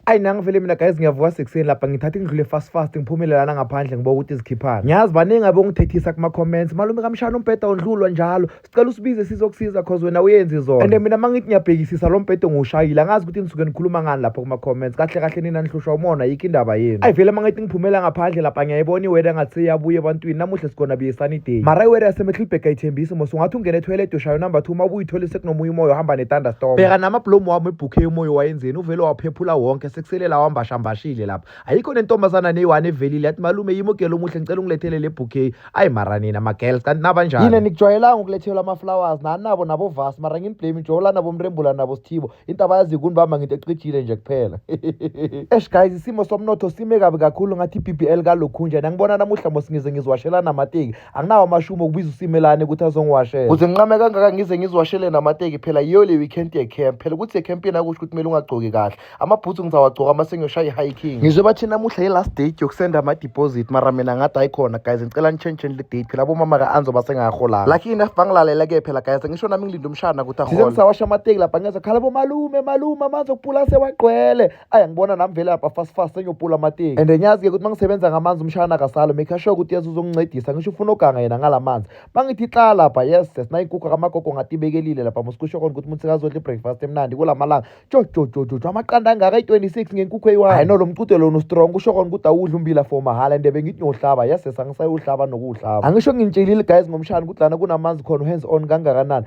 ayi nami ngivele mina guys ngiyavuka sekuseni lapha ngithatha ingidlule fast fast ngiphumelelana ngaphandle ngiba ukuthi zikhiphana ngiyazi baningi abongithethisa kuma-comments malume kamshana umbheda undlulwa njalo sicela usibize sizokusiza cause wena uyenzi zona and mina uma ngithi ngiyabhekisisa lo mbhede ngiwushayile angazi ukuthi nisuke nikhuluma ngani lapha kuma-comments kahle kahle nina nihlushwa umona yikho indaba yenu ayi vele uma ngithi ngiphumela ngaphandle lapha ngiyayibona iweda ngathi seyabuya ebantwini namuhle sikhona biyesani day mara iweda yasemehlibhega ayithembisi mos ungathi ungene etoilet ushayo number two uma ubuyithole sekunomoya umoya uhamba ne-thunderstorm bheka nama-blomu wami ebhukhe umoya waye emsebenzini uvele waphephula wonke sekusele lawa mbashambashile lapha ayikho nentombazana neyiwane evelile yathi malume yimi ugela omuhle ngicela ungilethele le bouquet ayi mara nina magirls kanti nabanjani yini nikujwayelanga ukulethelwa ama-flowers nanabo nabovasi mara nginiblame njola nabo mrembula nabo sithibo into abayazi kuni bamba ngento ecijile nje kuphela esh guys isimo somnotho sime kabi kakhulu ngathi i-bbl kalokhunjani angibona namuhla mos ngize ngiziwashelana amateki anginawo amashumo okubiza usimelane ukuthi azongiwashela kuze nginqame kangaka ngize ngiziwashele namateki phela yiyo le weekend yecamp phela ukuthi yecamp yena kusho ukuthi kumele ungagcoki kahle amabhuthu ngizawagcoka uma sengiyoshaya i-hiking ngizwe bathi namuhla yi-last date yokusenda ama-deposit mara mina ngathi ayikhona guys ngicela nitshentsheni le date phela abomama ka-anzo basengaholanga lucky enough bangilalela-ke phela guys ngisho nami ngilinde umshana ukuthi ahole ngisawasha amateki lapha ngeza khala bomalume malume amanzi okupula sewagqwele ayi angibona nami vele lapha fast fast senyopula amateki and ngiyazi-ke ukuthi uma ngisebenza ngamanzi umshana akasalo make sure ukuthi yesu uzongincedisa ngisho ufuna oganga yena ngala manzi uma ngithi xa lapha yes sinayinkukhu kamagogo ngatibekelile lapha musikusho kona ukuthi umuntu sekazodla i-breakfast emnandi kula malanga jojojojojo amaqanda angaka i-26 ngenkukhu eyi-one hayi no lo mcute lona ustrong kusho kona ukuthi awudla umbila for mahhala and bengithi ngiyohlaba yes angisayowuhlaba nokuwuhlaba angisho ngintshilile guys ngomshana ukuthi lana kunamanzi khona uhands on kangakanani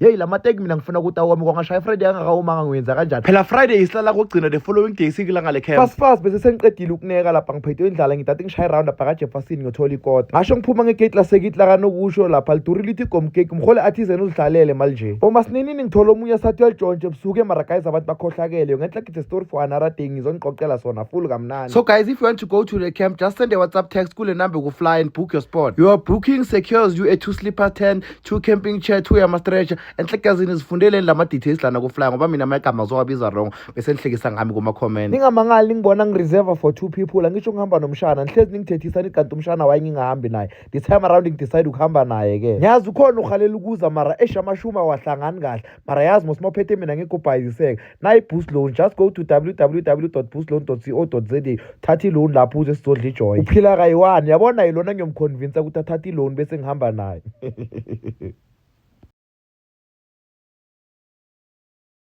yeyi la mateki mina ngifuna ukuthi awome kwangashaya ifriday angakawomanga ngiwenza kanjani phela friday isihlala kugcina the following day sikilanga le camp fast fast bese sengiqedile ukuneka lapha ngiphethe indlala ngidade ngishaye round apha kajefferson ngiyothola ikota ngasho ngiphuma ngegate lasekiti lakanokusho lapha liduri lithi gomkeki mhole athizen uzihlalele mali nje uma sininini ngithola omunye sathi uyalitshontshe ebusuku emara guys abantu bakhohlakele ngenhla gide story for another day ngizonixoxela sona full kamnandi so guys if you want to go to the camp just send a whatsapp text kule number kufly and book your spot your booking secures you a two sleeper tent two camping chair two yama-stretcher enhlekazini zifundeleni la ma-details lana kuflya ngoba mina amagama zowabiza wrong bese nihlekisa ngami kuma-comment ningamangali ningibona ngireserva for two people angisho ngihamba nomshana nihlezi ningithethisa nithi kanti umshana waye ngingahambi naye this time around ngidecide ukuhamba naye-ke ngiyazi ukhona uhalela ukuza mara esha amashumi awahlangani kahle mara yazi mos uma uphethe mina ngekho ubhayiziseka nayi-boost loan just go to www boost loan co za thatha i-loan lapho uze sizodla ijoy uphila kayi-one yabona yilona ngiyomkhonvinsa ukuthi athathe i-loan bese ngihamba naye